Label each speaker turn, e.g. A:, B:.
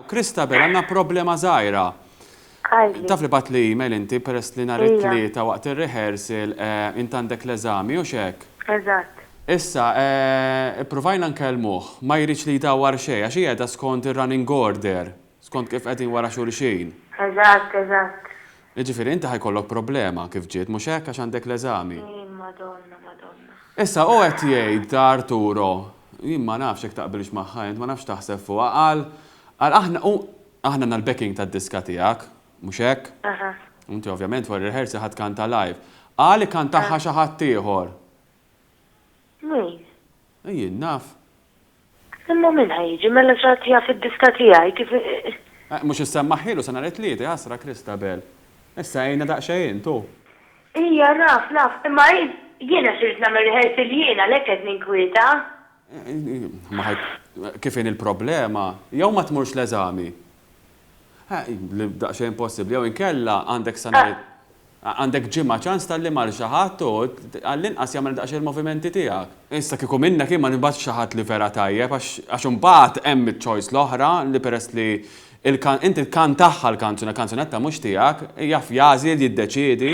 A: Christabel, għandna problema żgħira.
B: Taf li batli email
A: inti peress li nhar it-Tlieta waqt ir-rehearsal eh, int għandek l-eżami u x'hekk? Eżatt.
B: Issa, eh,
A: ippruvajna nkellmuh, ma jridx li jdawwar xejn għax hi qiegħda skont ir-running order, skont kif qegħdin wara xulxin. Eżatt, eżatt.
B: Jiġifieri
A: inti ħa jkollok problema kif ġiet, mhux hekk, għax għandek l-eżami. Jien Madonna, Madonna.
B: Issa
A: hu qed jgħid ta' Arturo, jien ma nafx jekk taqbilx magħha int, ma nafx x'taħseb fuqha, qal, qal aħna, hu, aħna għandna l-backing tad-diska tiegħek, mhux hekk? Aha. U inti ovvjament wara r-rehearsal ħa tkanta live. Qal ikantahha xi ħaddieħor.
B: Min?
A: Jien naf. Imma
B: min ħa jiġi mela x'għad jaf id-diska tiegħi kif. Eh, mhux
A: issemmaħhielu sa nhar it-Tliet, iħassra Christabel. Issa għinha daqsxejn, tu. Ija,
B: naf, naf, imma hi, jiena x'irrid nagħmel rehearsal jien, għalhekk qed ninkwieta. Eh, ma ħa,
A: kif inhi l-problema? Jew ma tmurx l-eżami? Daqsxejn possibbli, jew inkella għandek sa nhar għandek ġimgħa ċans tgħallim għal xi ħadd u għall-inqas jagħmel daqsxejn il-movimenti tiegħek. Issa kieku minnek jien ma nibgħatx xi ħadd li vera tajjeb għax imbagħad hemm iċ-choice l-oħra li peress li inti tkantahha l-kanzuna, kanzunetta mhux tiegħek, jaf jagħżel, jiddeċiedi.